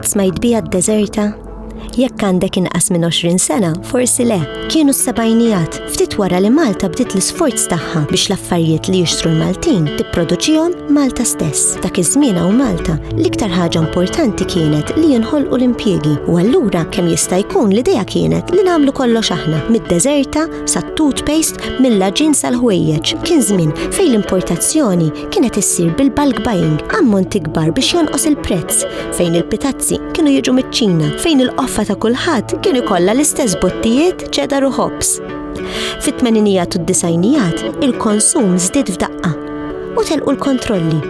Qatt smajt bija d-deżerta? Jekk għandek inqas minn 20 sena, forsi le. Kienu s-sebajnijat, ftit wara li Malta bdiet l-isforz tagħha biex l-affarijiet li jixtru l-Maltin tipproduċihom Malta stess. Dak iż-żmien hawn Malta, l-iktar ħaġa importanti kienet li jinħolqu l-impjiegi u allura kemm jista' jkun l-idea kienet li nagħmlu kollox aħna, mid-deżerta sat-toothpaste mill-laġin sal-ħwejjeġ. Kien żmien fejn l-importazzjoni kienet issir bil-bulk buying ammont ikbar biex jonqos il-prezz, fejn il-pitazzi kienu jiġu miċ-Ċina, fejn il-qoffa ta' kulħadd kien ikollha l-istess bottijiet ċedar u ħobs. Fit-tmeninijat u d-disajnijat, il-konsum żdied f'daqqa u telqu l-kontrolli.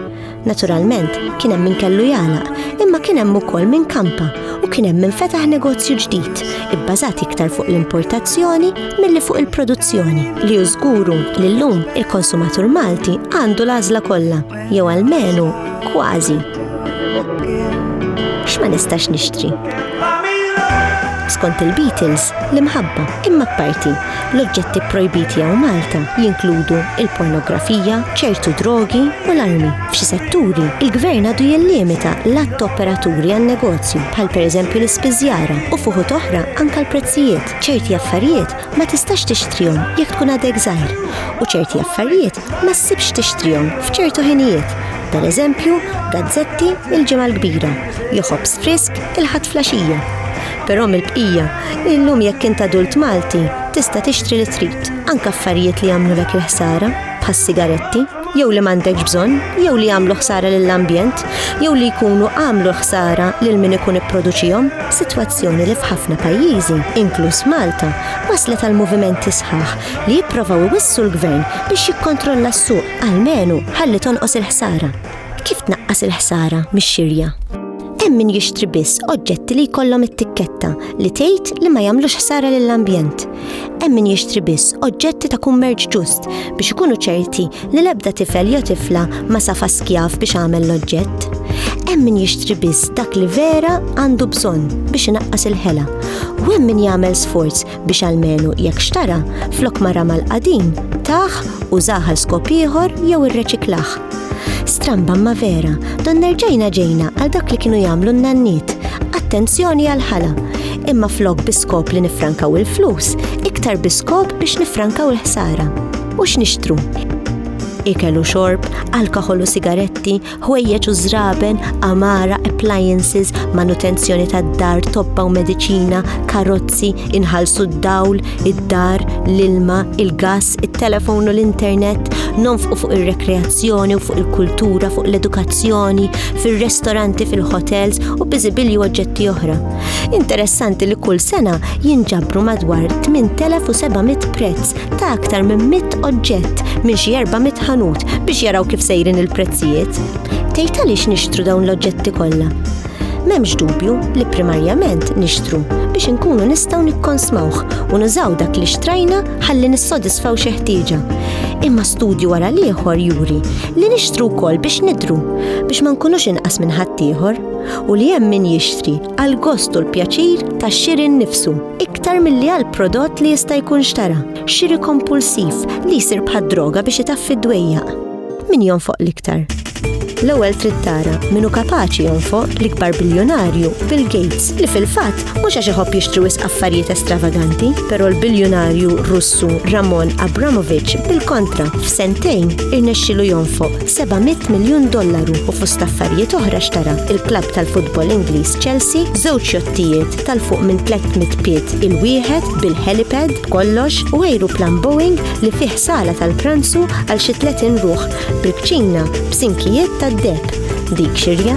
Naturalment, kien hemm min kellu jagħlaq, imma kien hemm ukoll min kampa u kien hemm min fetaħ negozju ġdid, ibbażat iktar fuq l-importazzjoni milli fuq il-produzzjoni, li żguru li llum il-konsumatur Malti għandu l-għażla kollha, jew almenu kważi. X'ma nistax nixtri? Skont il-Beatles, l-imħabba imma parti L-oġġetti pprojbiti hawn Malta jinkludu l-pornografija, ċertu drogi u l-armi. F'xi setturi, il-Gvern għadu jillimita l-għadd ta' operaturi għan-negozju, bħal pereżempju l-ispiżjara, u f'uħud oħra anke l-prezzijiet. Ċerti affarijiet ma tistax tixtrihom jekk tkun għadek żgħir, u ċerti affarijiet ma ssibx tixtrihom f'ċertu ħinijiet, pereżempju, gazzetti l-Ġimgħa l-Kbira, jew ħobż frisk il-Ħadd flaxija. Però mill-bqija, illum jekk int adult Malti, tista' tixtri li trid, anke affarijiet li jagħmlulek il-ħsara, bħas-sigaretti, jew li m'għandekx bżonn, jew li jagħmlu ħsara lill-ambjent, jew li jkunu għamlu l-ħsara lil min ikun ipproduċihom. Sitwazzjoni li f'ħafna pajjiżi, inkluż Malta, wasslet għal movimenti sħaħ li jipprovaw iwissu l-Gvern biex jikkontrolla s-suq, almenu ħalli tonqos il-ħsara. Kif tnaqqas il-ħsara mix-xirja? Hemm min jixtri biss oġġetti li jkollhom it-tikketta li tgħid li ma jagħmlux ħsara lill-ambjent. Hemm min jixtri biss oġġetti ta' kummerċ ġust biex ikunu ċerti li l-ebda tifel jew tifla ma safa skjav biex għamel l-oġġett. Hemm min jixtri biss dak li vera għandu bżonn biex inaqqas il-ħela. U hemm min jagħmel sforz biex almenu jekk xtara flok ma ramal qadim, taħ, użaħ għal skop ieħor jew irreċiklaħ. Stramba ma vera, don nerġajna ġejna għal dak li kienu jagħmlu n-nanniet. Attenzjoni għal ħala, imma flok biskop li nifrankaw il-flus, iktar biskop biex nifrankaw il-ħsara. U x'nixtru? Ikelu xorb, alkohol u sigaretti, ħwejjeġ u żraben, għamara, appliances, manutenzjoni tad-dar, tobba u mediċina, karozzi, inħallsu d-dawl, id-dar, l-ilma, il-gas, it-telefon u l-internet, nonfqu fuq ir-rekreazzjoni u fuq il-kultura, fuq l-edukazzjoni, fir-restoranti, fil-hotels u biżibilji u oġġetti oħra. Interessanti li kull sena jinġabru madwar 8700 prezz ta' aktar minn mitt oġġett minn xi erba' mit ħanut biex jaraw kif sejrin il-prezzijiet. Tgħid għaliex nixtru dawn l-oġġetti kollha? M'hemmx dubju li primarjament nixtru biex inkunu nistgħu nikkonsmawh u nużaw dak li xtrajna ħalli nissodisfaw xi ħtieġa. Imma studju wara l-ieħor juri li nixtru wkoll biex nidru biex ma nkunux inqas minn ħaddieħor u li hemm min jixtri għal gostu l-pjaċir tax-xiri nnifsu. iktar milli għal prodott li jista' jkun xtara, xiri kompulsiv li jsir bħad-droga biex itaffi d-dwejjaq. Min jonfoq l-iktar? L-ewwel trid tara min hu kapaċi jonfoq l-ikbar biljunarju Bill Gates li fil-fatt mhux għax iħobb jixtri wisq affarijiet estravaganti, però l-biljunarju Russu Ramon Abramovich bil-kontra f'sentejn irnexxilu jonfoq 700 miljun dollaru u fost affarijiet oħra xtara il-klabb tal-futbol Ingliż Chelsea, żewġ jottijiet, tal fuq minn 300 piet il-wieħed bil-helipad kollox u ajruplan Boeing li fih sala tal-pranzu għal xi 30 ruħ bil-kċina b'sinkijiet tad-deb. Dik xirja.